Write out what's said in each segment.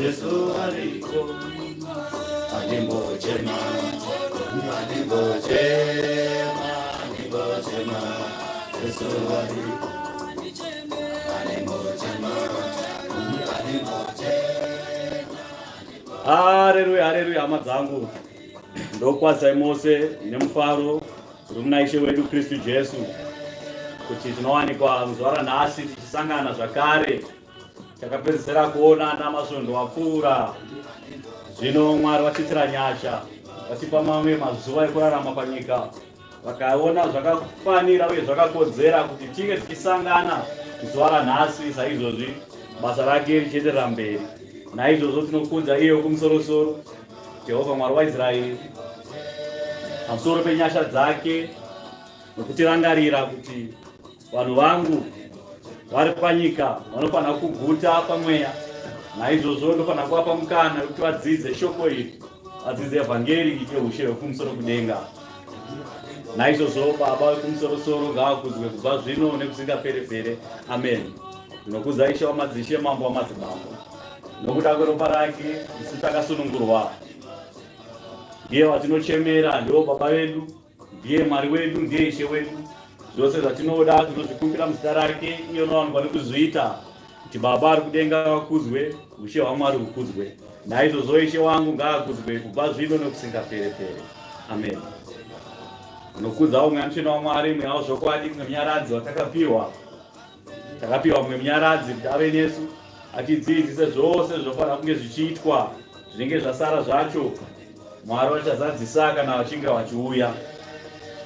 Jesu ariko andimbochema andimbochema andimbochema Jesu ariko andimbochema andimbochema Haleluya haleluya hama dzangu ndokwazai mose nemufaro uri muna Ishe wedu Kristu Jesu kuti tinowanikwa muzuva ranhasi tichisangana zvakare takapedzisira kuona ana masvondo wapfuura zvino mwari vachitira nyasha vachipa mamwe mazuva ekurarama panyika vakaona zvakafanira uye zvakakodzera kuti tinge tichisangana zuva ranhasi saizvozvi basa rake richienderera mberi naizvozvo tinokudza iye wekumusorosoro jehovha mwari waisraeri pamusoro penyasha dzake nokutirangarira kuti Vanhu vangu vari panyika vanofanira kuguta pamweya, naizvozvo ndofanira kuvapa mukana kuti vadzidze shoko iri, vadzidze evhangeri yeushe hwekumusoro kudenga. Naizvozvo Baba vekumusoro-soro ngavakudzwe kubva zvino nekusingapere-pere. Ameni. Ndinokuza Ishe wamadzishe, Mambo wamadzimambo, nokuda kweropa rake isu takasunungurwa. Ndiye watinochemera, ndiwo Baba vedu ndiye mwari wedu ndiye ishe wedu zvose zvatinoda tinozvikumbira muzita rake iye unowanikwa nekuzviita kuti baba ari kudenga vakuzwe ushe hwamwari hukuzwe naizvozvo ishe wangu ngaakuzwe kubva zvino nekusingaperepere amen unokudzawo mweya mutsvene wamwari mweya wezvokwadi mwemunyaradzi watakapiwa takapiwa mumwe munyaradzi kuti ave nesu atidzidzise zvose zvinofanira kunge zvichiitwa zvinenge zvasara zvacho mwari vachazadzisa kana vachinge vachiuya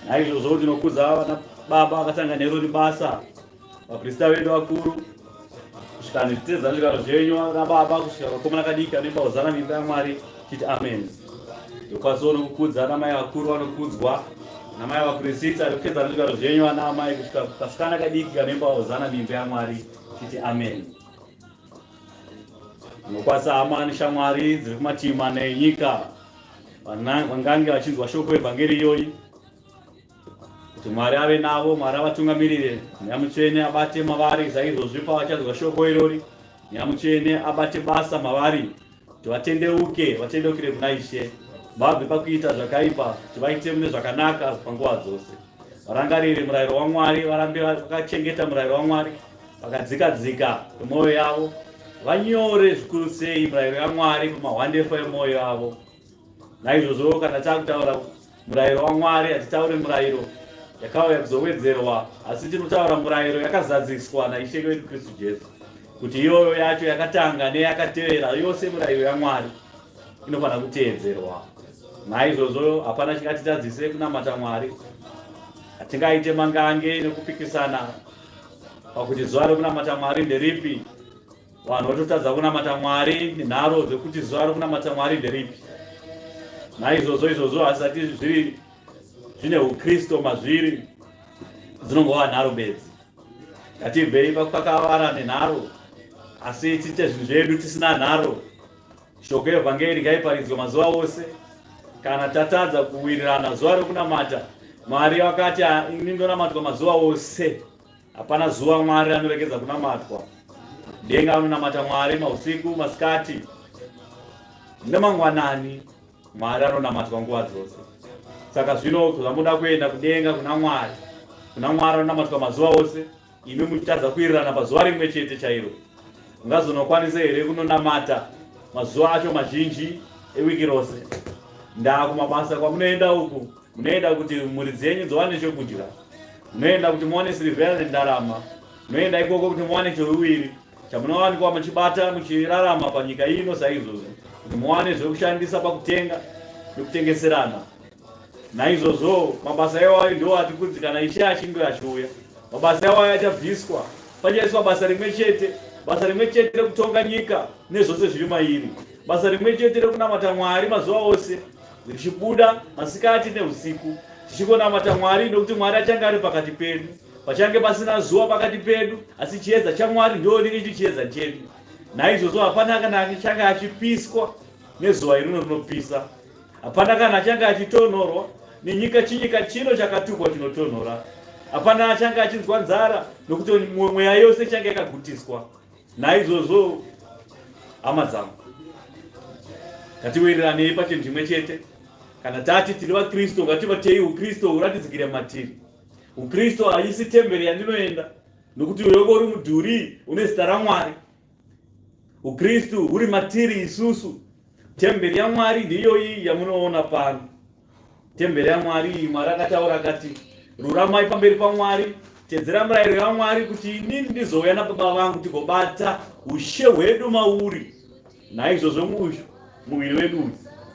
naizvozvo ndinokudza vana baba vakatanga nero ribasa vaprista vedu vakuru kusvika nezvitedzanzvikaro zvenyu vana baba kusvika vakomana kadiki anoimba hozana mimba yamwari ya titi amen ndokwazi onokukudza ana mai vakuru vanokudzwa ana mai vapurisita rekupedza nezvigaro zvenyu ana amai kusvika kasikana kadiki kanemba hozana mimba yamwari titi amen ndokwazi hama neshamwari dziri kumativi mana enyika vangange vachinzwa shoko evhangeri iyoyi kuti mwari ave navo mwari avatungamirire mweya mutsvene abate mavari saizvozvi pavachazwa shoko irori mweya mutsvene abate basa mavari kuti vatendeuke vatendeukire kuna ishe vabve pakuita zvakaipa kuti vaite mune zvakanaka panguva dzose varangarire murayiro wamwari varambe vakachengeta murayiro wamwari vakadzika dzika kwemwoyo yavo vanyore zvikuru sei murayiro yamwari pamahwandefa emwoyo yavo naizvozvo kana takutaura murayiro wamwari hatitaure murayiro yakauya kuzowedzerwa asi tiri kutaura murayiro yakazadziswa naishe wedu kristu jesu kuti iyoyo yacho yakatanga neyakatevera yose murayiro yamwari inofanira kuteedzerwa naizvozvo hapana chingatitadzise kunamata mwari hatingaite mangange nekupikisana pakuti zuva rekunamata mwari nderipi Vanhu vototadza kunamata Mwari nenharo dzekuti zuva rokunamata Mwari nderipi. Naizvozvo izvozvo hazvisati zviri zvine uKristu mazviri dzinongova nharo bedzi. Ngatibvei pakakavara nenharo asi tiite zvinhu zvedu tisina nharo. Shoko evhangeri ngaiparidzwe mazuva ose. Kana tatadza kuwirirana zuva rokunamata Mwari wakati ini ndonamatwa mazuva ose. Hapana zuva Mwari anoregedza kunamatwa. Denga anonamata Mwari mausiku, masikati nemangwanani. Mwari anonamatwa nguva dzose. Saka zvino zvamuda kuenda kudenga kuna Mwari, kuna Mwari anonamatwa mazuva ose, imi muchitadza kuirirana pazuva rimwe chete chairo. Ungazonokwanisa here kunonamata mazuva acho mazhinji ewiki rose? Ndaa kumabasa kwamunoenda uku munoenda kuti mhuri dzenyu dziwane chokudya munoenda kuti muwane sirivhera nendarama munoenda ikoko kuti muwane choruviri chamunowanikwa muchibata muchirarama panyika ino saizvozvo kuti muwane zvekushandisa pakutenga nekutengeserana naizvozvo mabasa iwayo ndiwo ati kunzi kana ishe achinge achiuya mabasa iwayo achabviswa pachaiswa basa rimwe chete basa rimwe chete rekutonga nyika nezvose zviri mairi basa rimwe chete rekunamata mwari mazuva ose ndichibuda masikati neusiku tichingonamata mwari nokuti mwari achange ari pakati pedu pachange pasina zuva pakati pedu asi chiedza chamwari ndo rinenge chiri chiedza chedu naizvozvo hapana kana achange achipiswa nezuva irino rinopisa hapana kana achange achitonhorwa nenyika chinyika chino chakatukwa chinotonhora hapana achange achinzwa nzara nokuti mweya yose ichange yakagutiswa naizvozvo hama dzangu ngatiwiriranei pachinhu chimwe chete kana tati tiri vakristu ngativatei ukristu huratidzikire matiri ukristu haisi temberi yandinoenda nokuti uyoko uri mudhuri une zita ramwari ukristu huri matiri isusu temberi yamwari ndiyoyi yamunoona pano Tembere yaMwari iyi, Mwari akataura akati, ruramai pamberi paMwari, tedzera murayiro yaMwari kuti inini ndizouya nababa vangu tigobata ushe hwedu mauri. Naizvozvo uyu muviri wedu uyu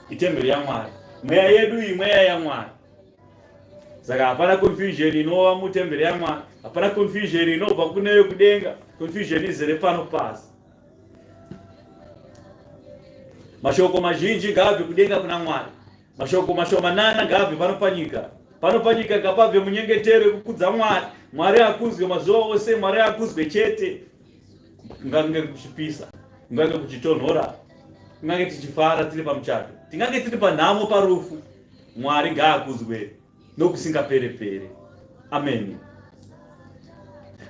itembere yaMwari, mweya yedu iyi mweya yaMwari. Saka hapana confusion inova mutembere yaMwari, hapana confusion inobva kune yokudenga. Confusion izere pano pasi. Mashoko mazhinji ngaabve kudenga kuna Mwari, mashoko mashomanana ngaabve pano panyika. Pano panyika ngapabve munyengetero yekukudza Mwari. Mwari akuzwe mazuva ose, Mwari akuzwe chete. Kungange kuchipisa, kungange kuchitonhora, kungange tichifara tiri pamuchato, tingange tiri panhamo, parufu, Mwari ngaakuzwe. nokusingapere pere ameni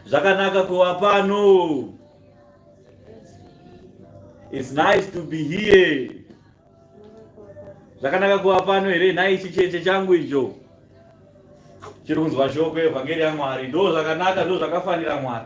zvakanaka kuva pano its nice to be here zvakanaka kuva pano here nhai chicheche changu icho chiri kunzwa shoko evhangeri yamwari ndo zvakanaka ndo zvakafanira mwari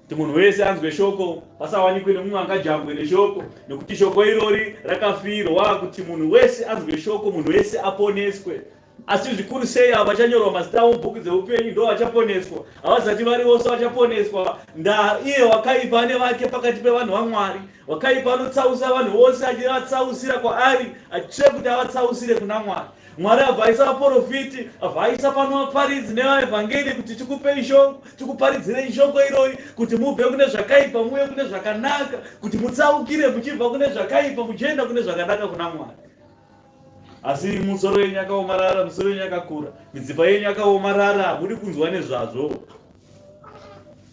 kuti munhu wese anzwe shoko pasawanikwe nemumwe angajambwe neshoko nekuti shoko irori rakafirwa kuti munhu wese anzwe shoko munhu wese aponeswe asi zvikuru sei avo vachanyorwa mazita avo mubhuku dzeupenyu ndo vachaponeswa havazati vari vose vachaponeswa nda iye wakaipa ane vake pakati pevanhu vamwari wakaipa anotsausa vanhu vose achivatsausira kwaari achitire kuti avatsausire kuna mwari mwari avhaisa vaprofiti avhaisa pano vaparidzi nevaevhangeri kuti tikupei shoko tikuparidzirei shoko iroi kuti mubve kune zvakaipa muye kune zvakanaka kuti mutsaukire muchibva kune zvakaipa muchienda kune zvakanaka kuna mwari asi musoro yenyu yakaomarara musoro yenyu yakakura midzipa yenyu yakaomarara hamudi kunzwa nezvazvo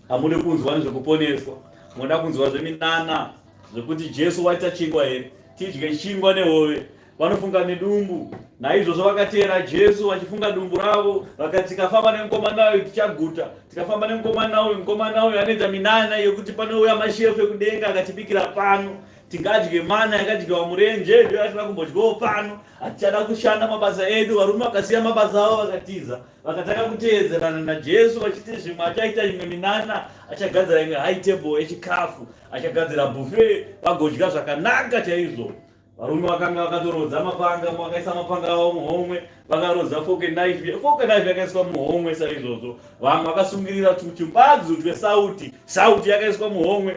hamudi kunzwa nezvekuponeswa moda kunzwa zveminana zvekuti jesu waita chingwa here tidye chingwa nehove vanofunga nedumbu naizvozvo vakateera jesu vachifunga dumbu ravo vakati tikafamba nemukomana uyu tichaguta tikafamba nemukomana uyu mukomana uyu anoita minana yekuti panouya mashefu ekudenga akatibikira pano tingadye mana yakadyiwa murenje ndiyo yatina kumbodyawo pano hatichada kushanda mabasa edu varume vakasiya mabasa avo vakatiza vakatanga kuteedzerana najesu vachiti zvimwe achaita imwe minana achagadzira imwe high table yechikafu achagadzira bufe vagodya zvakanaka chaizvo varume vakanga vakatorodza mapanga vakaisa mapanga avo muhomwe vakarodza foke knife foke knife yakaiswa muhomwe saizvozvo vamwe vakasungirira tuchimbadzu twesauti sauti yakaiswa muhomwe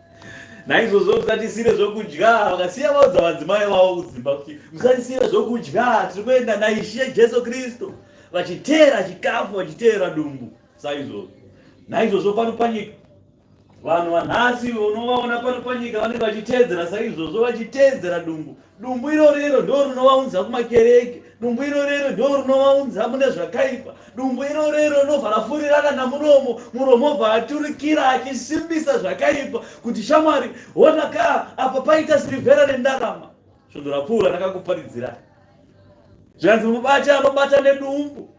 naizvozvo musatisire zvokudya vakasiya vaudza vadzimai vavo kudzimba kuti musatisire zvokudya tiri kuenda naishe jesu kristu vachiteera chikafu vachiteera dumbu saizvozvo naizvozvo pano panyika vanhu vanhasi unovaona pano panyika vanenge vachiteedzera saizvozvo vachiteedzera dumbu dumbu iro rero ndo rinovaunza kumakereke dumbu iro rero ndo rinovaunza mune zvakaipa dumbu iro rero rinobva rafurirana namuromo muromo obva aturikira achisimbisa zvakaipa kuti shamwari ona ka apa paita sirivhera rendarama svondo rapfuura rakakuparidzira zvikanzi mubati anobata nedumbu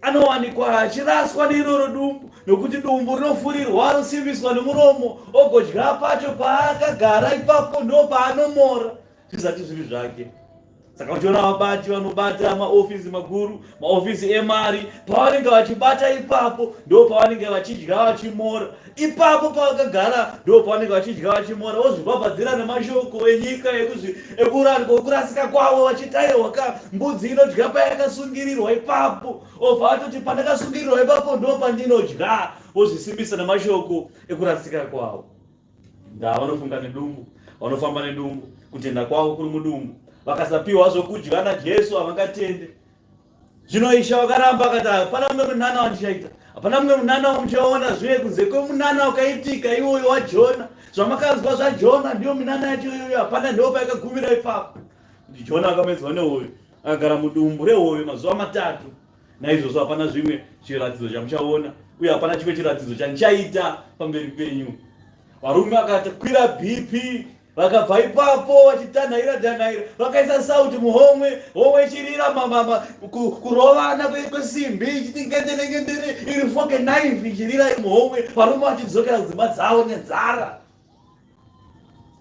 anowanikwa achiraswa neiroro dumbu nokuti dumbu rinofurirwa anosimbiswa nemuromo ogodya pacho paakagara ipapo ndo paanomora zvisati zviri zvake saka uchiona vabati vanobata maofisi makuru maofisi emari pavanenge vachibata ipapo ndo pavanenge vachidya vachimora ipapo pavakagara ndo pavanenge vachidya vachimora vozvibhabhadzira nemashoko enyika ekurasika kwavo vachitairwa ka mbudzi inodya payakasungirirwa ipapo obva atoti pandakasungirirwa ipapo ndo pandinodya vozvisimbisa nemashoko ekurasika kwavo ndaa vanofunga nedumbu vanofamba nedumbu kutenda kwavo kuri mudumbu vakasapiwa zvokudya najesu havangatende zvino ishe wakaramba akati hapana mumwe munana wandichaita hapana mumwe munana wamuchaona zviye kunze kwemunana wakaitika iwoyo wajona zvamakanzwa zvajona ndiyo minana yacho iyoyo hapana ndopa yakagumira ipapo kuti jona akamedzwa nehoyo akagara mudumbu rehoyo mazuva matatu naizvozvo hapana zvimwe chiratidzo chamuchaona uye hapana chimwe chiratidzo chandichaita pamberi penyu varume akati kwira bp vakabva ipapo vachitanhaira tanhaira vakaisa sauti muhomwe homwe ichirira mamama kurovana kwesimbi ichiti ngendenengendene iri foke naifi ichirira iri muhomwe varume vachidzokera dzimba dzavo nenzara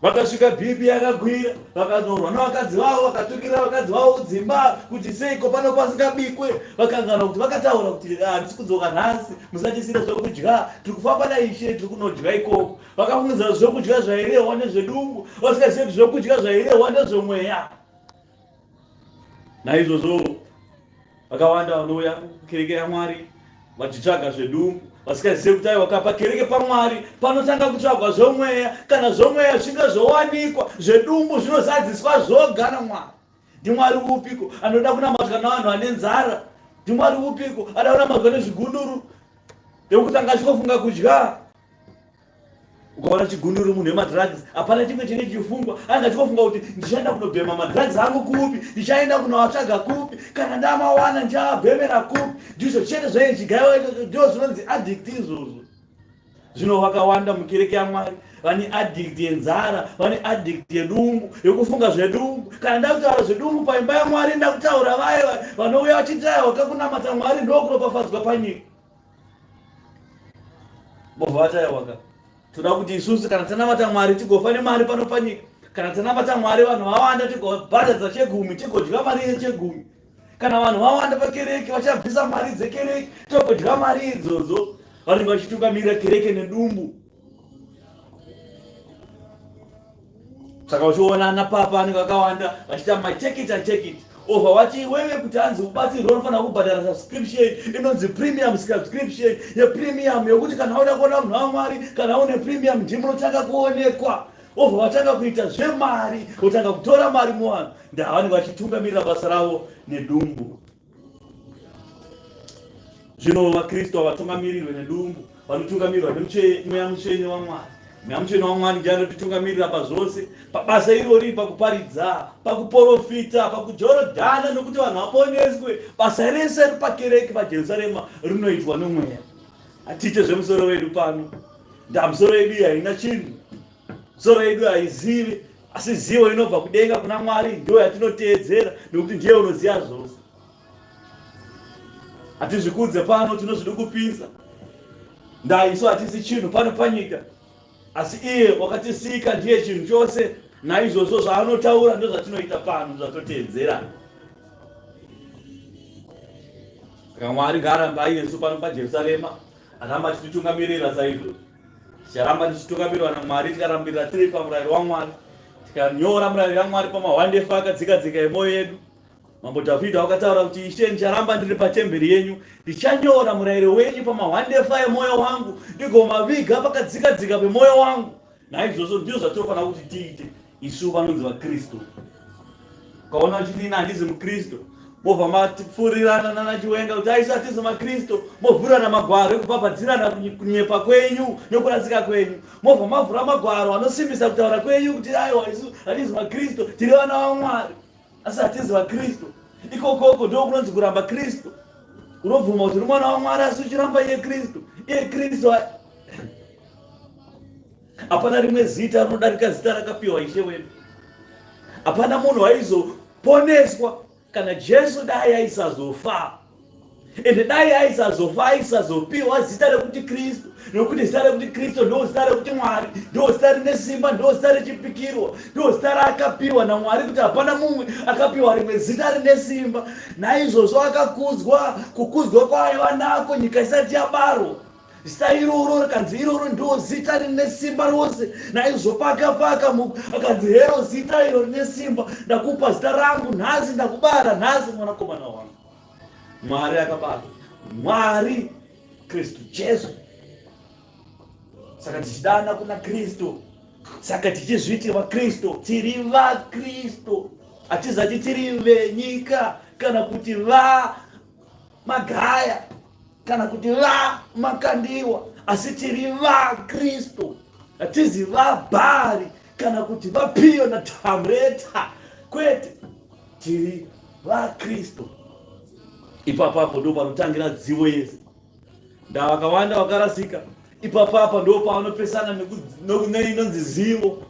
vakasvika bhipi yakagwira vakanorwa navakadzi vavo vakatukira vakadzi vavo kudzimba kuti seiko pano pasingabikwe vakangana kuti vakataura kuti ah, handisi kudzoka nhasi musatisire zvekudya tiri kufamba naishe tiri kunodya ikoko vakafungidzira zvokudya zvairehwa nezvedumbu vasingazivi kuti zvokudya zvairehwa nezvomweya naizvozvo vakawanda vanouya kukereke yamwari vachitsvaga zvedumbu vasingazivi kuti aiwa kapa kereke pamwari panotanga kutsvagwa zvomweya kana zvomweya zvinge zvowanikwa zvedumbu zvinozadziswa zvoga namwari ndimwari upiko anoda kunamatwa navanhu vane nzara ndimwari upiko anoda kunamatwa nezvigunduru yokutanga achikofunga kudya ukaona chigunduru munhu wemadrugs hapana chimwe chine chifungwa anga chikofunga kuti ndichaenda kunobhema madrugs angu kupi ndichaenda kunoatsvaga kupi kana ndamawana ndichaabhemera kupi ndizvo chete zvaye chigaiwa ichocho ndo zvinonzi addict izvozvo zvino vakawanda mukereke yamwari vane addict yenzara vane addict yedumbu yekufunga zvedumbu kana ndakutaura zvedumbu paimba yamwari ndakutaura vaye vanouya vachitaya wakakunamata mwari ndokuropafadzwa panyika Bova vataya waka. Toda kuti isusu kana tanamata Mwari tigofa nemari pano panyika. Kana tanamata Mwari vanhu vawanda tigobhadhadza chegumi tigodya mari yechegumi. Kana vanhu vawanda pakereke vachabvisa mari dzekereke togodya mari idzodzo. Vanenge vachitukamira kereke nedumbu. saka uchiona ana papa anenge akawanda vachiita my take it and take it over wati wewe kuti hanzi ubatsirwe unofanira kubhadhara subscription inonzi premium subscription yepremium yokuti kana wauda kuona munhu wamwari kana une premium ndimu unotanga kuonekwa over watanga kuita zvemari wotanga kutora mari muvanhu ndavanenge vachitungamirira basa ravo nedumbu zvino vakristu havatombamirirwe nedumbu vanotungamirirwa nemweya mutsvene wamwari mweya mutsvene wamwari ndiye anotitungamirira pazvose pabasa irori pakuparidza pakuporofita pakujorodhana nokuti vanhu vaponeswe basa rese ripakereke pajerusarema rinoitwa nomweya hatiite zvemusoro wedu pano ndamusoro yedu haina chinhu Soro yedu haizivi, asi zivo inobva kudenga kuna Mwari ndiyo yatinoteedzera nekuti ndiye unoziva zvose. Hatizvikudze pano, tinozvidukupisa. Ndai isu hatisi chinhu pano panyika, asi iye wakatisika ndiye chinhu chose, naizvozvo zvaanotaura ndozvatinoita pano, zvatoteedzera. Saka Mwari ngaarambe ainesu pano paJerusarema, aramba achititungamirira saizvozvo. ticharamba tichitungamirwa namwari tikarambirira tiri pamurayiro wamwari tikanyora murayiro yamwari pamahwande efa akadzika dzika yemoyo yedu mambo dhavhidha wakataura kuti ishe ndicharamba ndiri patemberi yenyu ndichanyora murayiro wenyu pamahwande efa yemoyo wangu ndigomaviga pakadzika dzika pemoyo wangu naizvozvo ndizvo zvatinofanira kuti tiite isu vanonzi vakristu ukaona uchiti ina handizi mukristu mobva mafurirana nana chiwenga kuti aisu hatizi makristu movhurana magwaro ekubhabhadzirana kunyepa kwenyu nekurasika kwenyu mobva mavhura magwaro anosimbisa kutaura kwenyu kuti aiwa isu hatizi makristu tiri vana vamwari asi hatizi vakristu ikokoko ndo kunonzi kuramba kristu unobvuma kuti uri mwana wamwari asi uchiramba iye kristu iye kristu Hapana rimwe zita rinodarika zita rakapiwa Ishe wedu. Hapana munhu aizoponeswa kana Jesu dai aisazofa ende dai aisazofa aisazopiwa zita rekuti kristu nokuti zita rekuti kristu ndo zita rekuti mwari ndo zita rine simba ndo zita rechipikirwa ndo zita raakapiwa namwari kuti hapana mumwe akapiwa rimwe zita rine simba naizvozvo akakudzwa kukudzwa kwaaiva nako nyika isati yabarwa zita iroro rikanzi iroro ndo zita rine simba rose naizvo paka paka akanzi hero zita iro rine simba ndakupa zita rangu nhasi ndakubara nhasi mwanakomana wangu mwari akabata mwari kristu jesu saka tichidana kuna kristu saka tichizviti vakristu tiri vakristu hatizati tiri venyika kana kuti va magaya kana kuti va makandiwa asi tiri vakristu hatizi vabhari kana kuti vapiyo na tamreta kwete tiri vakristu ipapapo ndo panotangira dzivo yese ndavakawanda vakarasika ipapapa ndo pavanopesana neinonzi zivo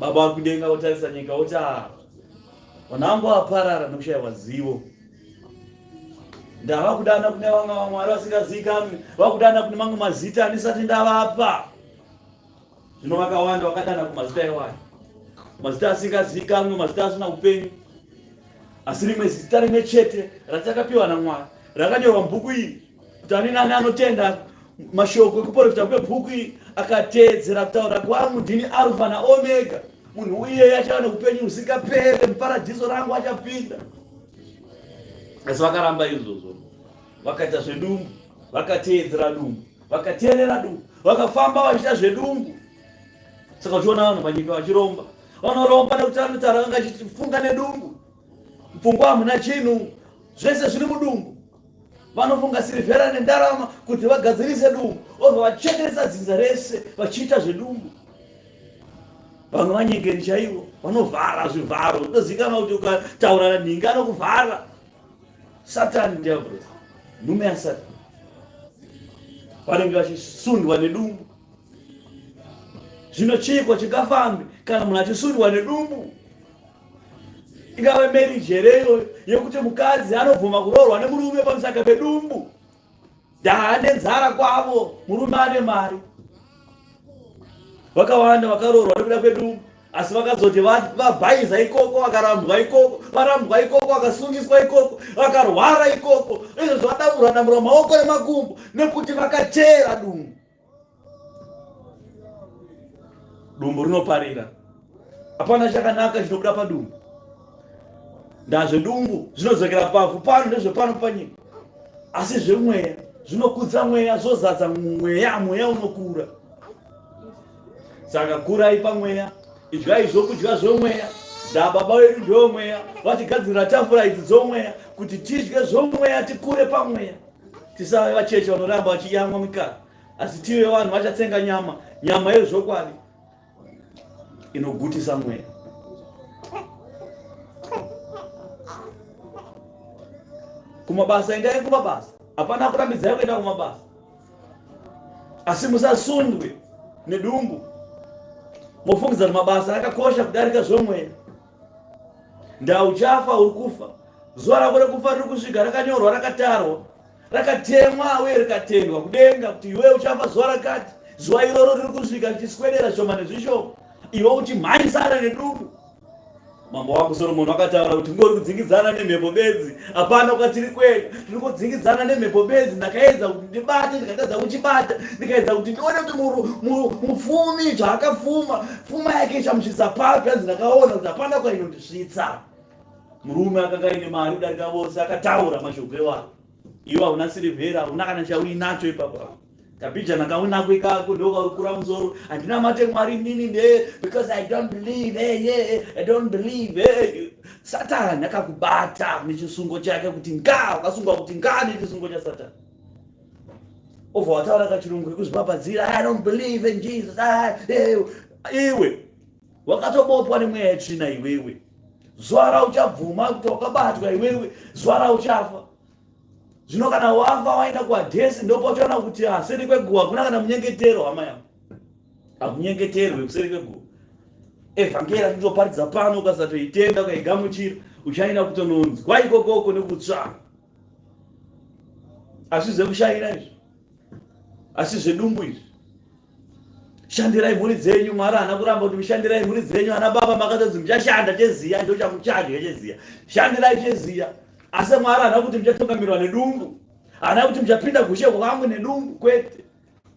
baba vari kudenga votarisa nyika voti ah, vanangu vaparara nokushayiwa zivo ndava kudana kune vamwe vamwari vasingazivikanwi vakudana kune mamwe mazita andisati ndavapa zvino vakawanda vakadana kumazita iwayo mazita asingazivikanwi mazita asina upenyu asi rimwe zita rimwe chete ratakapiwa namwari rakanyorwa mubuku iri kuti ani nani anotenda mashoko ekuporofita kwebhuku iri akateedzera kutaura kwangu ndini arufa naomega munhu uyeyo achava neupenyu husingapere muparadhiso rangu achapinda asi vakaramba izvozvo vakaita zvedumbu vakateedzera dumbu vakateerera dumbu vakafamba vachiita zvedumbu saka uchiona vanhu panyika vachiromba vanoromba nekuti anotaura vanga achifunga nedumbu Pfungwa hamuna chinhu, zvese zviri mudumbu. Vanofunga sirivhera nendarama kuti vagadzirise dumbu, obva vachekeresa dzinza rese vachiita zvedumbu. Vamwe vanyengeri chaivo vanovhara zvivharo, ndozikana kuti ukataura nhingi anokuvhara. Satani ndiabhuza, nhume yasatani vanenge vachisundwa nedumbu zvino chiiko chingafambi kana munhu achisundwa nedumbu ingava marriage here iyoyo yekuti mukadzi anobvuma kuroorwa nemurume pamusaka pedumbu daa nenzara kwavo murume ane mari vakawanda vakaroorwa nekuda kwedumbu asi vakazoti vabhaiza ikoko vakarambwa ikoko varambwa ikoko vakasungiswa ikoko vakarwara ikoko izvo zvavadamura damura maoko nemakumbo nekuti vakachera dumbu dumbu rinoparira hapana chakanaka chinobuda padumbu ndazvedumbu zvinodzokera pavhu pano ndezvepano panyika asi zvemweya zvinokudza mweya zvozadza mweya mweya unokura saka kurai pamweya idyai zvokudya zvomweya ndababa wedu ndewomweya vatigadzirira tafura idzi dzomweya kuti tidye zvomweya tikure pamweya tisave vacheche vanoramba vachiyamwa mikaka asi tive vanhu vachatsenga nyama nyama yezvokwadi inogutisa mweya kumabasa endai kumabasa hapana kurambidzai kuenda kumabasa asi musasundwe nedumbu mofungidza kuti mabasa akakosha kudarika zvomweya ndauchafa uri kufa zuva rako rekufa riri kusvika rakanyorwa rakatarwa rakatemwa uye rikatendwa kudenga kuti iwe uchafa zuva rakati zuva iroro riri kusvika richiswedera shoma nezvishoma iwe uchimhanyisana neduku mambo wako soromoni vakataura kuti ngori kudzingidzana nemhepo bedzi hapana kwatiri kuenda tiri kudzingidzana nemhepo bedzi ndakaedza kuti ndibate ndikatadza kuchibata ndikaedza kuti ndione kuti mufumi zvaakafuma fuma yake ichamusvitsa papi hanzi ndakaona kuti hapana kwainondisvitsa murume akanga aine mari kudarika vose akataura mashoko ewako iwe hauna sirivhera hauna kana chauinacho ipapo kabijana kaunako ikako ndokaukura musoro handina mate mwari nini ne because i don't believe hey, eh, yeah, eh, i don't believe hey. Eh. satani akakubata nechisungo chake kuti nga ukasungwa kuti nga nechisungo chasatani obva wataura kachirungu kekuzvipapadzira i don't believe in jesus ah, iwe wakatobopwa nemweya yetsvina iwewe zuva rauchabvuma kuti wakabatwa iwewe zuva rauchafa zvino kana wava waenda kuhadhesi ndopotoona kuti ah, seri kweguva kuna kana munyengetero hama yangu hakunyengeterwe kuseri kweguva evhangeri atitoparidza pano ukasatoitenda ukaigamuchira uchaenda kutononzwa ikokoko nekutsvaa asi zvekushaira izvi asi zvedumbu izvi shandirai mhuri dzenyu mwari haana kuramba kuti mushandirai mhuri dzenyu ana baba makatodzi muchashanda cheziya ndo chamuchadya cheziya shandirai cheziya asi mwari haana kuti muchatungamirwa nedumbu haana kuti muchapinda kushe kwangu nedumbu kwete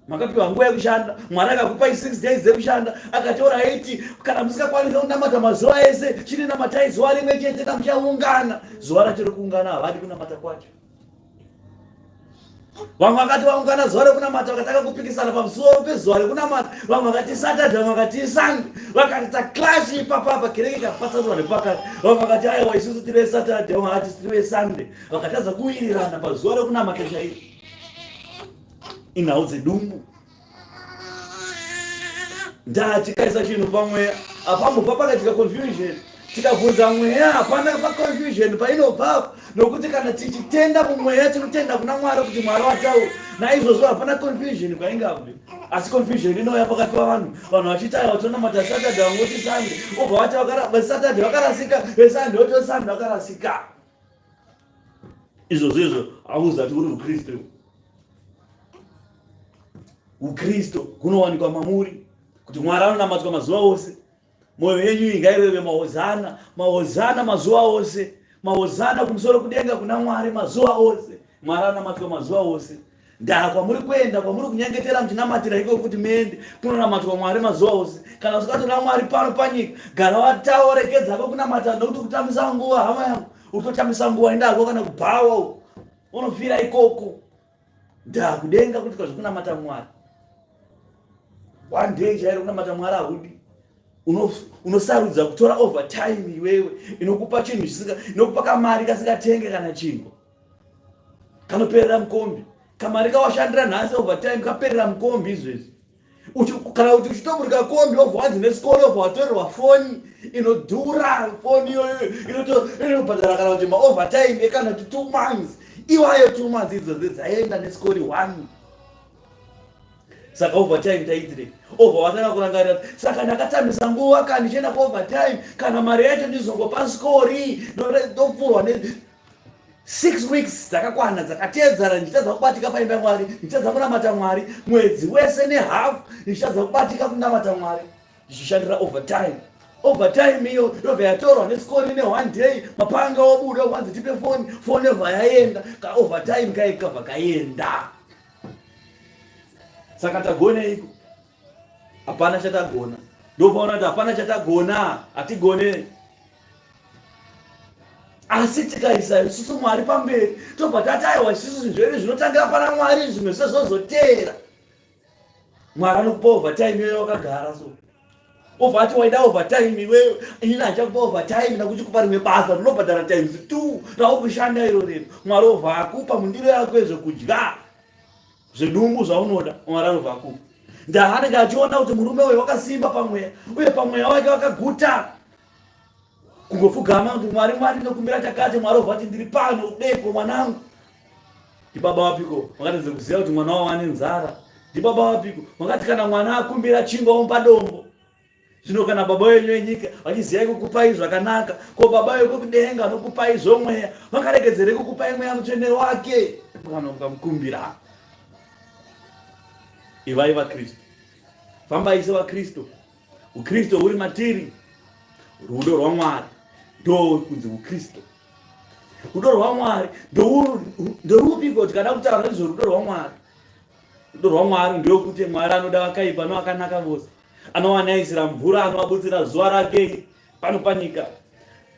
makapiwa nguva yekushanda mwari akakupai six days dzekushanda akataura aiti kana musingakwanisa kunamata mazuva ese chinenamatai zuva rimwe chete kamuchaungana zuva rachiri kuungana havadi kunamata kwacho vamwe vakati vaungana zuva rekunamata vakatanga kupikisana pamusoro pezuva rekunamata vamwe vakati satadha vamwe vakati isandi vakati taklashi ipapapa kereke ikapatsanurwa nepakati vamwe vakati aiwa isusu tiri vesatadha vamwe vakati tiri vesande vakatadza kuwirirana pazuva rekunamata chairo inhau dzedumbu ndaa tikaisa chinhu pamweya apambobva pakaitika confusion tikabvunza mweya hapana paconfusion painobva nokuti kana tichitenda kumweya tinotenda kuna mwari kuti mwari wataura naizvozvo hapana confusion kwaingabvi asi confusion inouya pakati pavanhu vanhu vachitaya vatonamata saturday vangoti sunday obva vati vesatade vakarasika vesande voti vesande vakarasika izvo zvezvo hauzati uri mukristu ukristu kunowanikwa mamuri kuti mwari anonamatwa mazuva ose mwoyo yenyu ingaireve mahozana mahozana mazuva ose mahozana kumusoro kudenga kuna mwari mazuva ose mwari anonamatwa mazuva ose ndaa kwamuri kuenda kwamuri kunyengetera muchinamatira iko kuti muende kunonamatwa mwari mazuva ose kana usikatora mwari pano panyika gara watawo rekedzako kunamata nokuti kutambisa nguva hama yangu utotambisa nguva indako kana kubhawa unofira ikoko ndaa kudenga kuti kwazvikunamata mwari one day chairo kunamata mwari ahudi unosarudza kutora over time iwewe inokupa chinhu chisika inokupa kamari kasingatenge kana chinhu kanoperera mukombi kamari kawashandira nhasi overtime kaperera mukombi izvezvi kana kuti uchitoburika kombi obva wanzi nesikoro obva watorerwa foni inodhura foni iyoyo inobhadhara kana kuti maovertime ekana kuti two months iwayo two months idzodzi dzaenda nesikori one saka overtime taitire obva watanga kurangarira saka ndakatambisa nguva ka ndichienda kuovertime kana mari yacho ndizongopa sikori ndopfurwa six weeks dzakakwana dzakateedzana ndichitadza kubatika paimba yamwari ndichitadza kunamata mwari mwedzi wese nehalf ndichitadza kubatika kunamata mwari ndichishandira overtime overtime iyo yobva yatorwa nesikoni neone day mapanga obuda kwanzi tipe foni foni yobva yaenda kaovertime kaikabva kaenda saka tagoneiko hapana chatagona ndopaona kuti hapana chatagona hatigone asi tikaisa isusu mwari pamberi tobva tataiwa isusu zvinhu zvinotangira pana mwari zvimwe zve zvozoteera mwari anokupa overtime iyoyo wakagara so obva ati waida overtime iweyo inini achakupa overtime nakuti kupa rimwe basa rinobhadhara times two raukushanda iro rino mwari obva akupa mundiro yako ezvekudya zvidumbu zvaunoda mwari anobva akupa ndaanenge achiona kuti murume uyu wakasimba pamweya uye pamweya wake wakaguta kungopfugama kuti mwari mwari ndokumbira chakati mwari obva kuti ndiri pano udeko mwanangu ndibaba wapiko makatadza kuziva kuti mwana wavo ane nzara ndibaba wapiko makati kana mwana akumbira chingwa omba dombo zvino kana baba wenyu wenyika vachiziyai kukupai zvakanaka ko baba wekudenga anokupai zvomweya vakaregedzerei kukupai mweya mutsvene wake kana mukamukumbira ivai vakristu fambai sevakristu ukristu huri matiri rudo rwamwari ndo kunzi ukristu rudo rwamwari ndorupiko kuti kana kutaura nezverudo rwamwari rudo rwamwari ndeokuti mwari anoda vakaipa novakanaka vose anowanaisira mvura anovaburitsira zuva rake pano panyika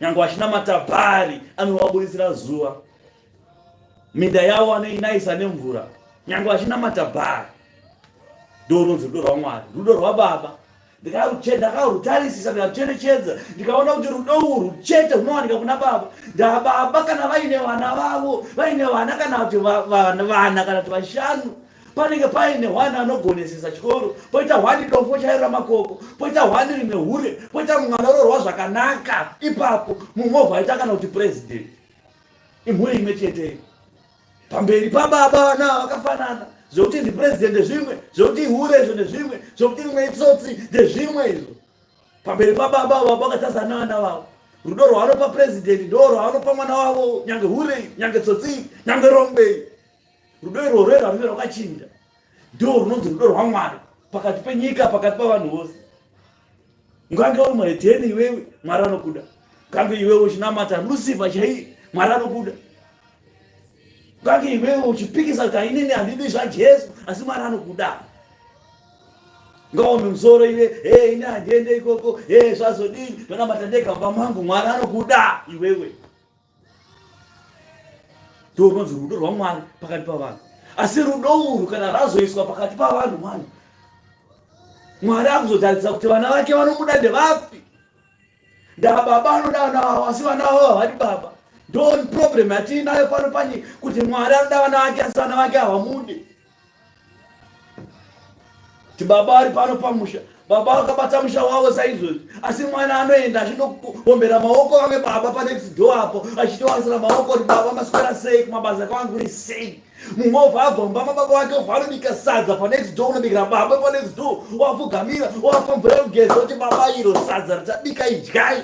nyange vachinamata bhari anovaburitsira zuva minda yavo anoinaisa nemvura nyange vachinamata bhari ndorunzi rudo rwamwari rudo rwababa ndakakarutarisisa ndikarucherechedza ndikaona kuti rudo urwu chete runowanika kuna baba ndababa kana vaine vana vavo vaine vana kana kuti vana kana kuti vashanu panenge paine hwani anogonesesa chikoro poita hwani dombo chairo ramakoko poita hwani rine hure poita mumwe anoroorwa zvakanaka ipapo mumwe ovhaita kana kuti president imhuri imwe cheteyo pamberi pababa vana vakafanana zvokuti ndipresident ndezvimwe zvokuti ihure izvo ndezvimwe zvokuti rimwe itsotsi ndezvimwe izvo pamberi pababa vavo vakatazana vana vavo rudo rwaanopa president ndo rwaanopa mwana wavo nyange hurei nyange tsotsii nyange rombei rudo irworwo iro runenge rwakachinja ndo runonzi rudo rwamwari pakati penyika pakati pavanhu vose ngange uri muhedheni iwewe mwari anokuda ngange iwewe uchinamata lusifa chaiye mwari anokuda ngange iwewe uchipikisa kuti ainini handidi zvajesu asi mwari anokuda ngaome musoro iwe e ini handiende ikoko e zvazodii ndonamata ndega mumba mangu mwari anokuda iwewe ndorunonzi rudo rwamwari pakati pavanhu asi rudo urwu kana razoiswa pakati pavanhu mwana mwari akuzotaridza kuti vana vake vanobuda ndevapi ndababa anoda vana vavo asi vana vavo havadi baba ndon problem yatiinayo pano pani kuti mwari anoda vana vake asi vana vake havamudi ti baba ari pano pamusha baba vakabata musha wavo saizvozvi asi mwana anoenda achinokuombera maoko vake baba panext door apo achitowanisira maoko kuti baba maswera sei kumabasa kwangu ri sei mumwe obva abva mumba mababa wake obva anobika sadza panext door unobikira baba panext door wapfugamira wapa mvura yekugeza kuti baba iro sadza richabika idyai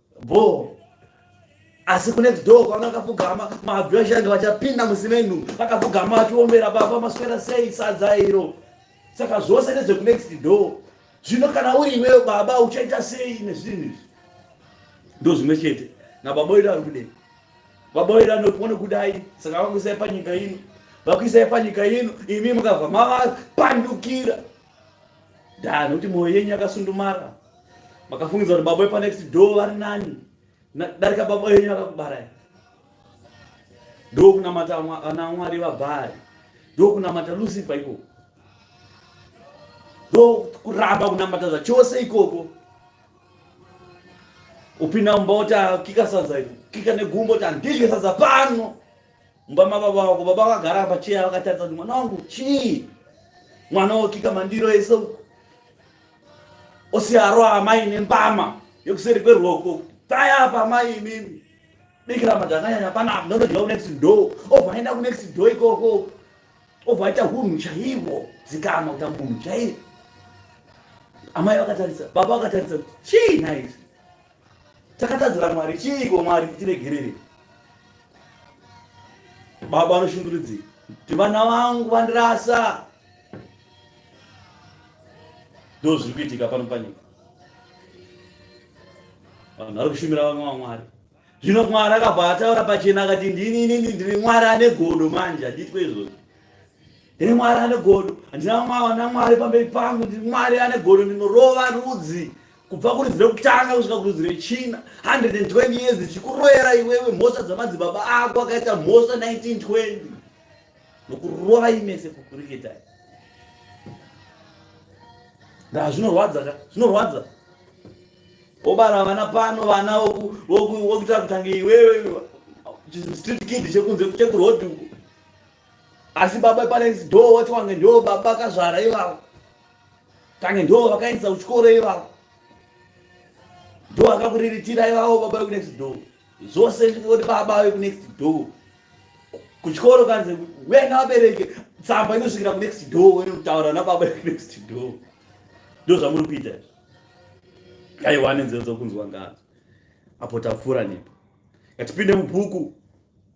boo asi kunext door kwaona akapfugama mabvi vachanga vachapinda musimenu akapfugama vachiombera baba maswera sei sadza iro saka zvose nezvekunext door zvino kana uri iweyo baba uchaita sei nezvinhu izvi ndo zvimwe chete nababa wedu ari kudei baba wedu anopone kudai saka vakuisai panyika ino vakuisai panyika ino imi mukabva mavapandukira ndaa nekuti mwoyo yenyu yakasundumara makafungidza kuti baba wepanext door vari nani darika baba yenyu akakubarai ndokunamata ana mwari vabhari ndokunamata lucifer ikoko ndokuramba kunamata zvachose ikoko upinda mumba woti akika sadza iko kika negumbo kuti handidye sadza pano mumba mababa vako baba vakagara pacheya vakatarisa kuti mwana wangu chii mwana wokika mandiro ese uku osiyaro amai nembama yekuseri kwerwoko taya apa amai imimi bikira madhakanyanya panapa ndonodya kunext door obva aenda kunext door ikoko obva aita hunhu chaivo dzikama kuta munhu chaivo amai vakatarisa baba vakatarisa chii naizi takatadzira mwari chiiko mwari tiregerere baba vanoshungurudzei kuti vana vangu vandirasa ndo zviri kuitika pano panyika vanhu vari kushumira vamwe vamwari zvino mwari akabva ataura pachena akati ndini inini ndiri mwari ane godo manje handiitwe izvozvo ndiri mwari ane godo handina mwana mwari pamberi pangu ndiri mwari ane godo ndinorova rudzi kubva kurudzi rekutanga kusvika kurudzi rechina 120 years zvichikuroyera iwewe mhosva dzamadzibaba ako akaita mhosva 1920 nokurovai mese kukuriketai ndaa zvinorwadza ka zvinorwadza wobara vana pano vana wokuita kutange iwewe chistreet kid chekunze chekurodi uku asi baba panext door wati wange ndo baba akazvara ivavo kange ndo vakaendesa kuchikoro ivavo ndo akakuriritira ivavo baba vekunext door zvose oti baba vekunext door kuchikoro kanzi wena vabereki tsamba inosvikira kunext door wene kutaura nababa vekunext door ndo zvamuri kuita aiwa nenzero dzokunzwa ngadzo apo tapfuura nepo ngatipinde mubhuku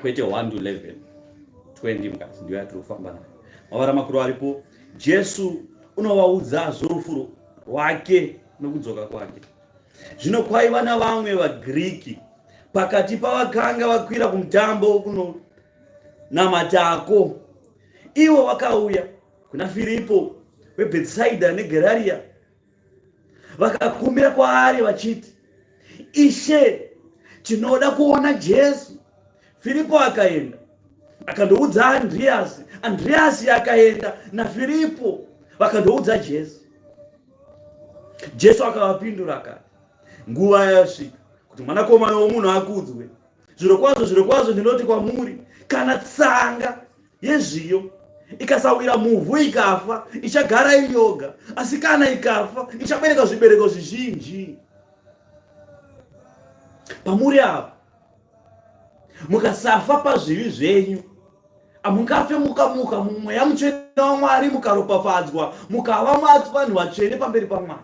kwete 1 to 11 20 mukati ndiyo yatiri kufamba nayo mavara makuru aripo jesu unovaudza zvorufu rwake nokudzoka kwake zvino kwaiva navamwe vagiriki pakati pavakanga vakwira kumutambo kunonamatako ivo vakauya kuna firipo webhetsaida negerariya vakakumbira kwaari vachiti ishe tinoda kuona jesu firipo akaenda akandoudza andriyasi andriyasi akaenda nafiripo vakandoudza jesu jesu akavapindura akati nguva yasvika kuti mwanakomana womunhu akudzwe zvirokwazvo zvirokwazvo ndinoti kwamuri kana tsanga yezviyo ikasawira muvhu ikafa ichagara iyoga asi kana ikafa ichabereka zvibereko zvizhinji pamuri apa mukasafa pazvivi zvenyu hamungafe mukamuka mumweya mutsvene wamwari mukaropafadzwa mukava vanhu vatsvene pamberi pamwari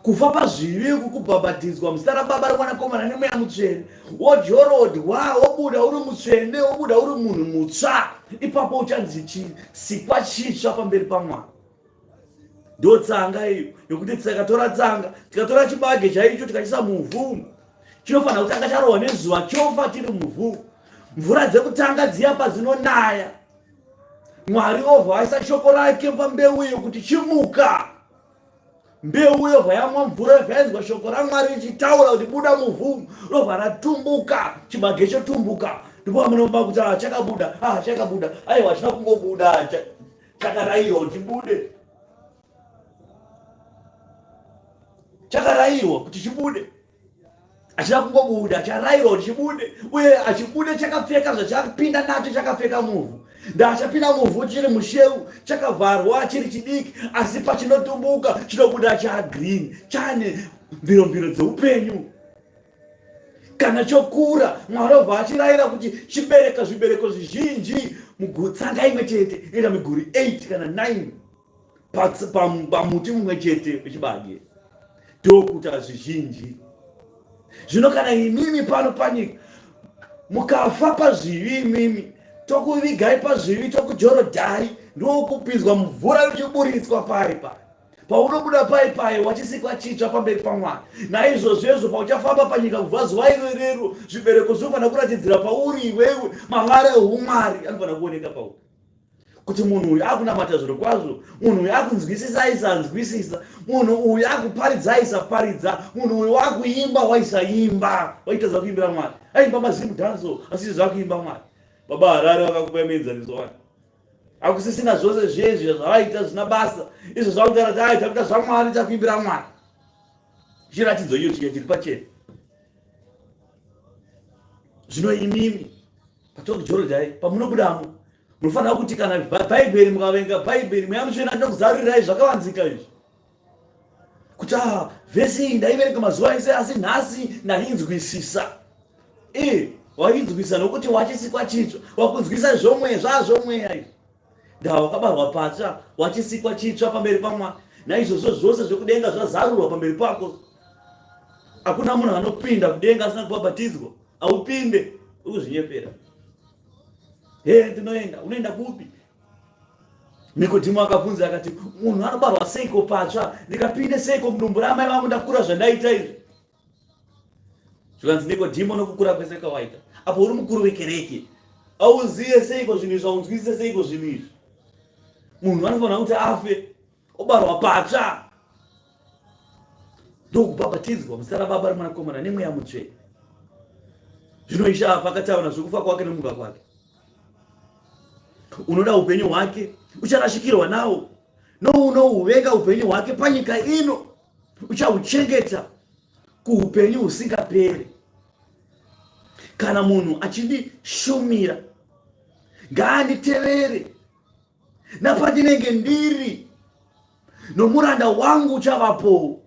kufa pazvivi uku kubhabhatidzwa muzita rababa remwanakomana nemweya mutsvene wodyorodwa wobuda uri mutsvene wobuda uri munhu mutsva ipapo uchanzi chisikwa chitsva pamberi pamwana ndo tsanga iyo yokuti tikatora tsanga tikatora chibage chaicho tikachisa muvhu chinofanira kutanga charohwa nezuva chofa chiri muvhu mvura dzekutanga dziya padzinonaya mwari ovha aisa shoko rake pambeu iyo kuti chimuka mbeu yobva yamwa mvura yobva yainzwa shoko ramwari richitaura kuti buda muvhu robva ratumbuka chibage chotumbuka ndipo amunoba kuti ah, chakabuda ah, chakabuda aiwa china kungobuda chakarayirwa kuti bude chakarayirwa kuti chibude achida kungobuda acharairwa kuti chibude uye achibude chakapfeka zvachapinda nacho chakapfeka muvhu ndaachapinda muvhu chiri musheu chakavharwa chiri chidiki asi pachinotumbuka chinobuda chagreen chane mviromviro dzeupenyu kana chokura mwari obva achirayira kuti chibereka zvibereko zvizhinji mugutsanga imwe chete inoita miguri 8 kana 9 pamuti mumwe chete wechibage ndokuta zvizhinji zvino kana imimi pano panyika mukafa pazvivi imimi tokuvigai pazvivi tokujorodhai ndokupinzwa mvura yochiburitswa pari pari paunobuda pai paye wachisikwa chitsva pamberi pamwari naizvozvezvo pauchafamba panyika kubva zuva iro irero zvibereko zvinofanira kuratidzira pauri iwewe mavara eumwari anofanira kuoneka pauri kuti munhu uyu akunamata zviro kwazvo munhu uyu akunzwisisa aisanzwisisa munhu uyu akuparidza aisaparidza munhu uyu wakuimba waisaimba waitadza kuimbira mwari aimba mazimu danso asisi zvakuimba mwari baba harari vakakupa mienzaniso wani akusisina zvose zvezvi zvavaita zvina basa izvo zvakugara tai takuita zvamwari takuimbira mwari chiratidzo iyo chiya chiri pachena zvino imimi Patongi Jorodhai pamunobudamo munofanira kuti kana bhaibheri mukavenga bhaibheri mweya mutsvene anoda kuzarurirai zvakavanzika izvi kuti a ah, vhesi iyi ndaiverenga mazuva ese asi nhasi ndainzwisisa i wainzwisisa nokuti wachisikwa chitsva wakunzwisisa zvomweya zvazvomweya izvi ndaa wakabarwa patsva wachisikwa chitsva pamberi pamwari naizvozvo zvose zvekudenga zvazarurwa pamberi pako hakuna munhu anopinda kudenga asina kubhabhatidzwa haupinde ukuzvinyepera he ndinoenda unoenda kupi nikodhimu akabvunza akati munhu anobarwa seiko patsva ndikapinde seiko mudumbu ramai vangu ndakura zvandaita izvi zvikanzi nikodhimo nokukura kwese kwawaita apo uri mukuru wekereke auzive seiko zvinhu izvi aunzwisise seiko zvinhu izvi munhu anofanira kuti afe obarwa patsva ndokubhabhatidzwa muzita rababa remwanakomana nemweya mutsvene zvino ishe apa akataura zvekufa kwake nemuka kwake unoda upenyu hwake ucharashikirwa nawo nounohuvenga upenyu hwake panyika ino uchahuchengeta kuupenyu husingaperi kana munhu achindishumira ngaanditevere napandinenge ndiri nomuranda wangu uchavapowo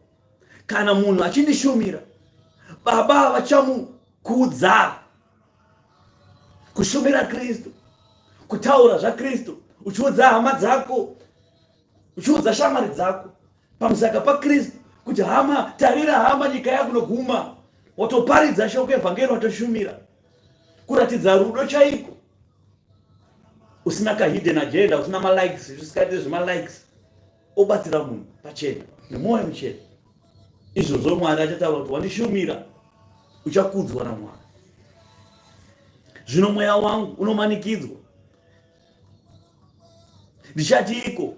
kana munhu achindishumira baba vachamukudza kushumira kristu kutaura zvakristu uchiudza hama dzako uchiudza shamwari dzako pamusaka pakristu kuti hama tarira hama nyika yakunoguma watoparidza shoko evhangeri watoshumira kuratidza rudo chaiko usina kahidden agenda usina malikes zvisikaite zvemalikes obatsira munhu pachena nemwoyo muchena izvozvo mwari achataura kuti wandishumira uchakudzwa namwari zvino mweya wangu unomanikidzwa ndichatiiko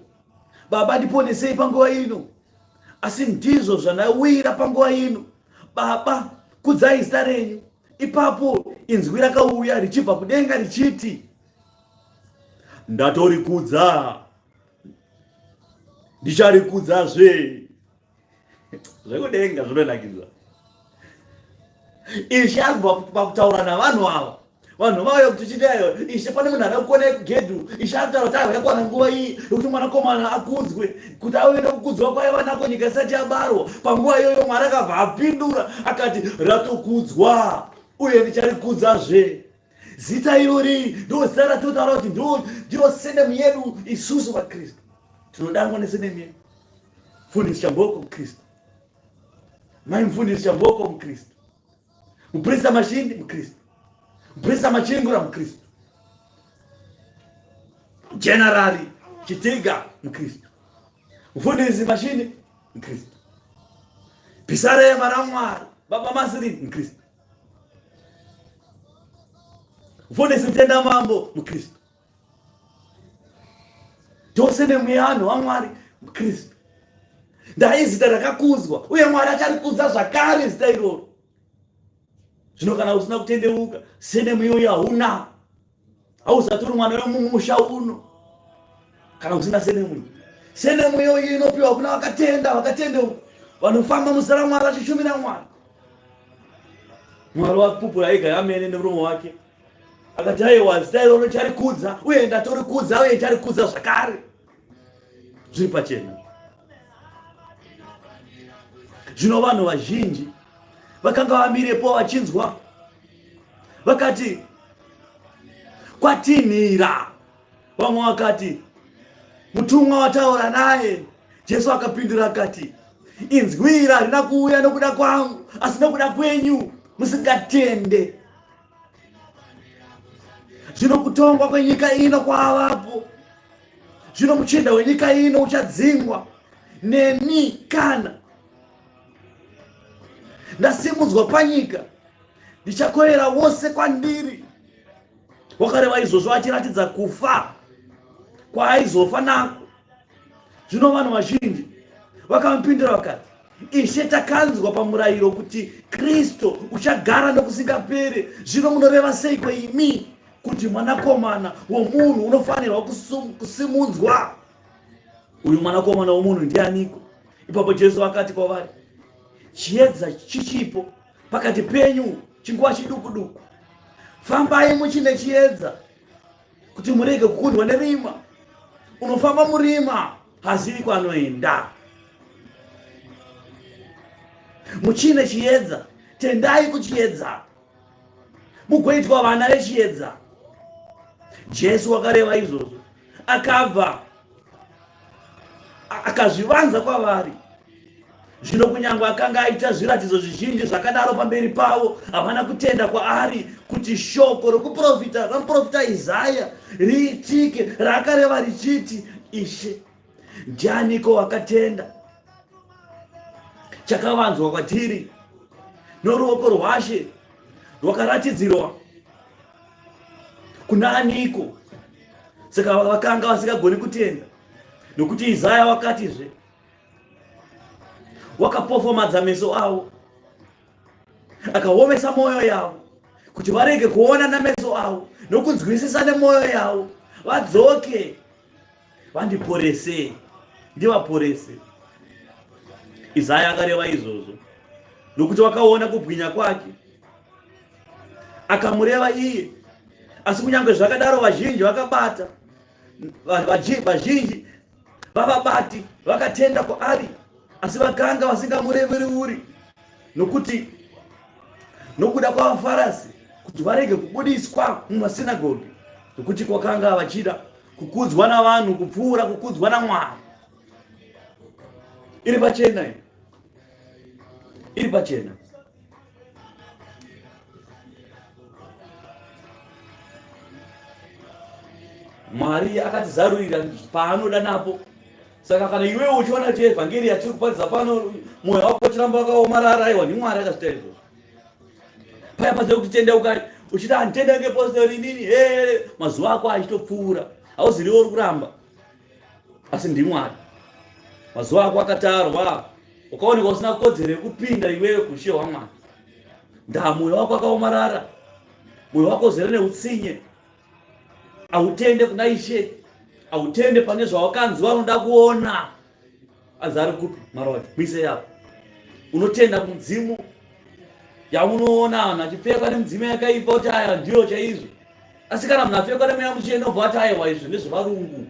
baba ndiponesei panguva ino asi ndizvo zvandawira panguva ino baba kudzai zita renyu ipapo inzwi rakauya richibva kudenga richiti ndatorikudza ndicharikudzazve zvekudenga zvinonakidza ishe agova pakutaura navanhu ava vanhu vauya kuti chitayo ishe pane munhu akakona yekugedhu ishe akutaura kuti akakwana nguva iyi yekuti mwanakomana akudzwe kuti auye nekukudzwa kwaye vanako nyika isati yabarwa panguva iyoyo mwari akabva apindura akati ratokudzwa uye ndichari kudzazve zita irori ndo zita ratotaura kuti ndiro senemu yedu isusu vakristu tinodanwa nesenemu yedu mfundisi chamboko mukristu mai mfundisi chamboko mukristu muprista mashindi mukristu muprista machingura mukristu generari chitiga mukristu mfundisi mashindi mukristu pisare maramwari baba masiri mukristu Mfundisi Mtenda Mambo Mkristo, tose nemuyano waMwari Mkristo, ndaye zita rakakuzwa uye Mwari acharikudza zvakare zita iroro. Zvino kana usina kutendeuka, sene muyoyo hauna hausatori mwana wemumusha uno kana usina senemuyo senemuyo iyi inopiwa kuna vakatenda vakatenda vanofamba muzita ramwari vachishumira mwari mwari wakupupura ega yamene nemuromo wake akati aiwa zita iroro charikudza uye ndatorikudza uye charikudza zvakare zviri pachena zvino vanhu vazhinji vakanga vamirepo vachinzwa vakati kwatinhira vamwe vakati mutumwa wataura naye jesu akapindura akati inzwira harina kuuya nokuda kwangu asi nokuda kwenyu musingatende Zvino kutongwa kwenyika ino kwavapo. Zvino muchinda wenyika ino uchadzingwa neni kana ndasimudzwa panyika ndichakoyera wose kwandiri wakareva izvozvo achiratidza kufa kwaaizofa nako zvino vanhu vazhinji vakamupindura vakati ishe takanzwa pamurayiro kuti kristu uchagara nokusingaperi zvino munoreva seiko imi kuti mwanakomana womunhu unofanirwa kusimunzwa uyu mwanakomana womunhu ndianiko ipapo jesu vakati kwavari chiedza chichipo pakati penyu chinguva chiduku duku fambai muchine chiedza kuti murege kukundwa nerima unofamba murima hazivi kwanoenda muchine chiedza tendai kuchiedza mugoitwa vana vechiedza jesu wakareva izvozvo akabva akazvivanza kwavari zvino kunyange akanga aita zviratidzo zvizhinji zvakadaro pamberi pavo havana kutenda kwaari kuti shoko rokuprofita ramuprofita isaya riitike raakareva richiti ishe ndianiko wakatenda chakavanzwa kwatiri noruoko rwashe rwakaratidzirwa kuna aniko saka vakanga vasingagoni kutenda nokuti izaya wakatizve wakapofomadza meso avo akaomesa mwoyo yavo kuti varege kuona nameso avo nokunzwisisa nemwoyo yavo vadzoke vandiporese ndivaporese izaya akareva izvozvo nokuti wakaona kubwinya kwake akamureva iye asi kunyange zvakadaro vazhinji vakabata vazhinji vavabati vakatenda kwaari asi vakanga vasingamureveruri nokuti nokuda kwavafarasi kuti varege kubudiswa mumasinagogi nokuti kwakanga vachida kukudzwa navanhu kupfuura kukudzwa namwari iri pachena iri pachena mwari akatizarurira paanoda napo saka kana iwe uchiona kuti evhangeri yatiri kuparidza pano mwoyo wako uchiramba wakaomarara aiwa ndimwari akazvita izvozvo paya paze kuti tendeukai uchiti handitendeuke postori inini he mazuva ako achitopfuura hauziriwo uri kuramba asi ndimwari mazuva ako akatarwa ukaoneka usina kodzero yekupinda iwewe kuushe hwamwari ndaa mwoyo wako akaomarara mwoyo wako uzere neutsinye hautende kuna ishe hautende pane zvawakanzi vanoda kuona anzi ari kupi maroja muise yapo unotenda mudzimu yaunoona anhu achipfekwa nemudzimu yakaipa kuti aya ndiyo chaizvo asi kana munhu apfekwa nemweya muchena obva ati aiwa izvi ndezvevarungu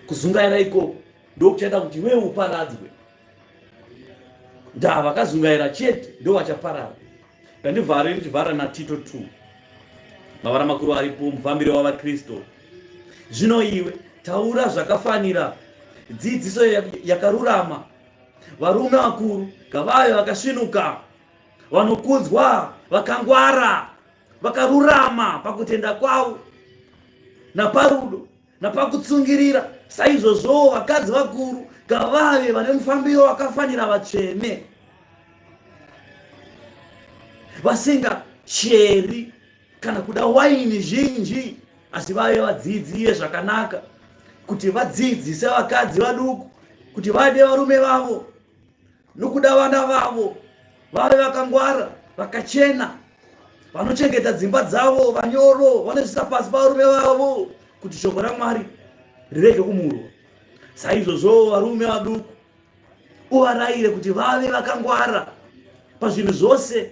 kuzungaira ikoko ndokuchaita kuti iwe uparadzwe ndaa vakazungaira chete ndo vachaparara ndandivhare ndichivhara natito t mavara makuru aripo mufambiro wavakristu zvino iwe taura zvakafanira dzidziso yakarurama varume vakuru ngavave vakasvinuka vanokudzwa vakangwara vakarurama pakutenda kwavo naparudo napakutsungirira saizvozvowo vakadzi vakuru ngavave vane mufambiro wakafanira vatsvene vasingacheri kana kuda waini zhinji asi vave vadziidzire zvakanaka kuti vadziidzise vakadzi vaduku kuti vade varume vavo nokuda vana vavo vave vakangwara vakachena vanochengeta dzimba dzavo vanyoro vanozvisa pasi pavarume vavo kuti shoko ramwari rirege kumurwa saizvozvowo varume vaduku uvarayire kuti vave vakangwara pazvinhu zvose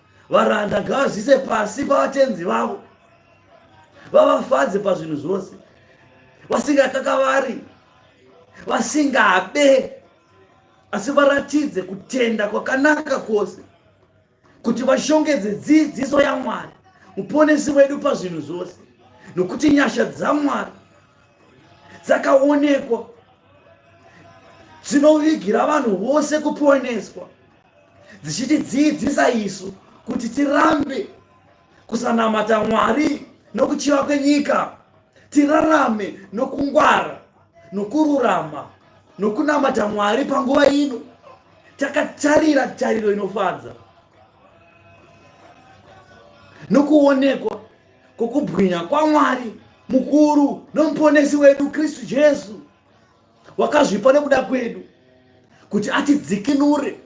varanda ngavazvise pasi pavatenzi vavo vavafadze pazvinhu zvose vasingakakavari vasingabe asi varatidze kutenda kwakanaka kwose kuti vashongedze dzidziso yamwari muponesi wedu pazvinhu zvose nokuti nyasha dzamwari dzakaonekwa dzinovigira vanhu vose kuponeswa dzichitidzidzisa isu kuti tirambe kusanamata mwari nokuchiva kwenyika tirarame nokungwara nokururama nokunamata mwari panguva ino takatarira tariro inofadza nokuonekwa kwokubwinya kwamwari mukuru nomuponesi wedu kristu jesu wakazvipa nekuda kwedu kuti atidzikinure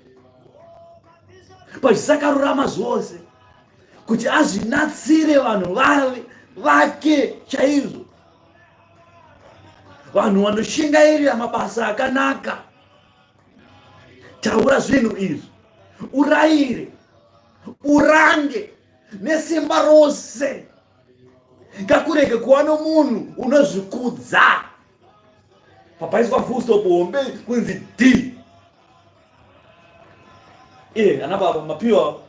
pazvisakarurama zvose kuti azvinatsire vanhu vave vake chaizvo vanhu vanoshingairira mabasa akanaka taura zvinhu izvi urayire urange nesimba rose ngakurege kuva nomunhu unozvikudza papaiswa full stop hombe kunzi d iye ana baba mapiwa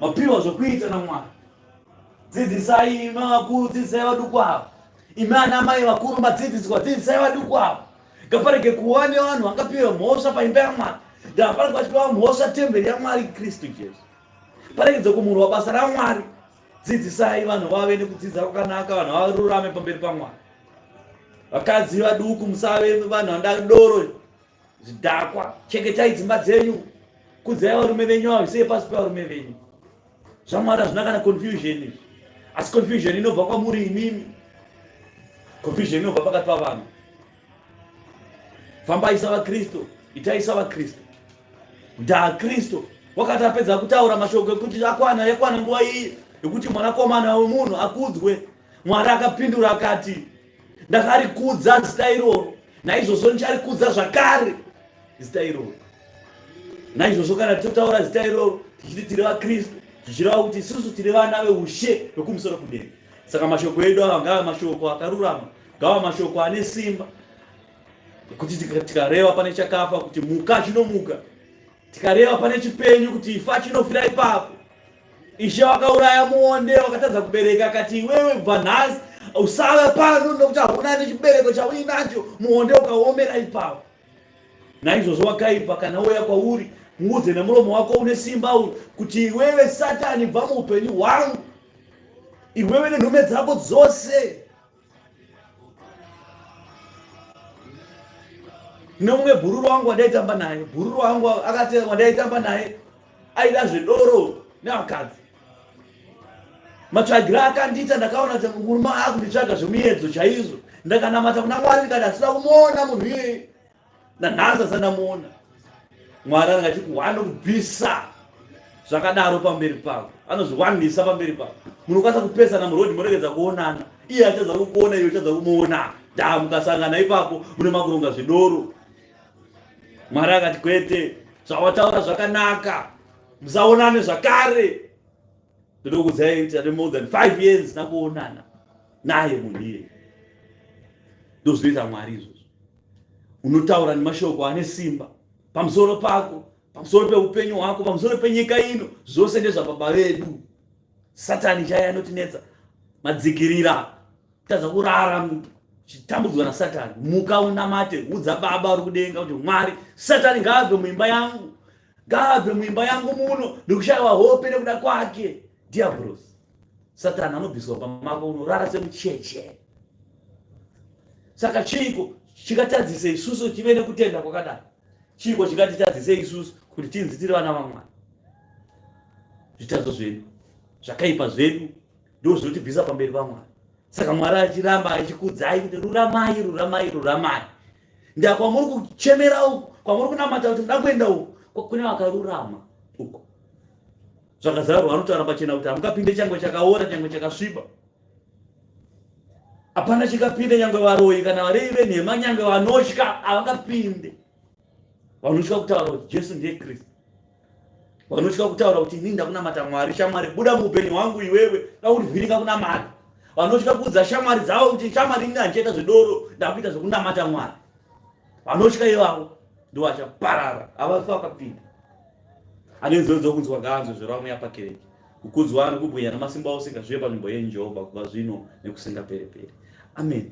mapiwa zvokuita namwana dzidzisai imi vakuru dzidzisai vaduku avo imi ana mai vakuru madzidziswa dzidzisai vaduku avo ngaparege kuva nevanhu vangapiwa mhosva paimba yamwari ngaparege vachipiwa mhosva temberi yamwari kristu jesu paregedze kumurwa basa ramwari dzidzisai vanhu vave nekudzidza kwakanaka vanhu varurame pamberi pamwari vakadzi vaduku musave vanhu vandari doro zvidhakwa chengetai dzimba dzenyu kudzai varume venyu avisei pasi pevarume venyu zvamwari hazvina kana confusion asi confusion inobva kwamuri imimi confusion inobva pakati pavanhu fambai savakristu itai savakristu ndaa kristu wakati apedza kutaura mashoko ekuti akwana yakwana nguva iyi yekuti mwanakomana wemunhu akudzwe mwari akapindura akati ndakarikudza zita iroro naizvozvo ndicharikudza zvakare zita iroro naizvozvo kana tichitaura zita iroro tichiti tiri vakristu tichireva kuti isusu tiri vana veushe vekumusoro kudenga saka mashoko edu ava ngava mashoko akarurama Gawa mashoko ane simba kuti tikareva pane chakafa kuti muka chinomuka, tikareva pane chipenyu kuti ifa chinofira ipapo. Ishe wakauraya muonde wakatadza kubereka, akati iwewe kubva nhasi usave pano nokuti hauna nechibereko chauinacho, muonde ukaomera ipapo. Naizvozvo wakaipa kana uya kwauri muudze nemuromo wako une simba uyu kuti iwewe satani bva muupenyu hwangu iwewe nenhume dzako dzose nomumwe bhururu wangu wandaitamba naye bhururu wangu akati wandaitamba naye aida zvedoro nevakadzi matsvagira akandiita ndakaona kuti murume akunditsvaga zvemuyedzo chaizvo ndakanamata kuna mwari ndikati asina kumuona munhu iyeye nanhasi asati ndamuona mwari anenge achiti wanobvisa zvakadaro pamberi pavo anozviwanisa pamberi pavo munokwanisa kupesana murodhi moregedza kuonana iye achadza kukuona iye uchadza kumuona da mukasangana ipapo mune makuronga zvidoro mwari akati kwete zvawataura zvakanaka musaonane zvakare ndinokudzai kuti ane more than five years nakuonana naye munhu iye ndozvinoita mwari izvozvo unotaura nemashoko ane simba pamusoro pako pamusoro peupenyu hwako pamusoro penyika ino zvose ndezvababa vedu satani chaiye anotinetsa madzikirira tadza kurara chitambudzwa nasatani muka unamate udza baba uri kudenga kuti mwari satani ngaabve muimba yangu ngaabve muimba yangu muno nekushaiwa hope nekuda kwake diabros satani anobviswa pamako unorara semucheche saka chiiko chikatadzisa isusu tive nekutenda kwakadaro chiiko chikatitadzisa isusu kuti tinzi tiri vana vamwari zvitadzo zvedu zvakaipa zvedu ndo zvinotibvisa pamberi pamwari saka mwari achiramba achikudzai kuti ruramai ruramai ruramai ndakwamuri kuchemera uku kwamuri kunamata kuti muda kuenda uku kune vakarurama uku zvakazarwa anotaura pachena kuti hamukapinde changwe chakaora changwe chakasviba hapana chikapinde nyangwe varoyi kana varevi venhema nyangwe vanotya havangapinde vanotya kutaura kuti jesu ndiye kristu vanotya kutaura kuti inini ndakunamata mwari shamwari buda muupenyu hwangu iwewe ndakurivhiringa kunamata vanotya kuudza shamwari dzavo kuti shamwari ini handichaita zvedoro ndakuita zvekunamata mwari vanotya ivavo ndo vachaparara avafa vakapinda anenzodzo kunzwa ganzo zveramwe yapakereke kukudzwa anokubwinya namasimba ose ngazvive panzvimbo yenyu jehovha kubva zvino nekusingapere pere amen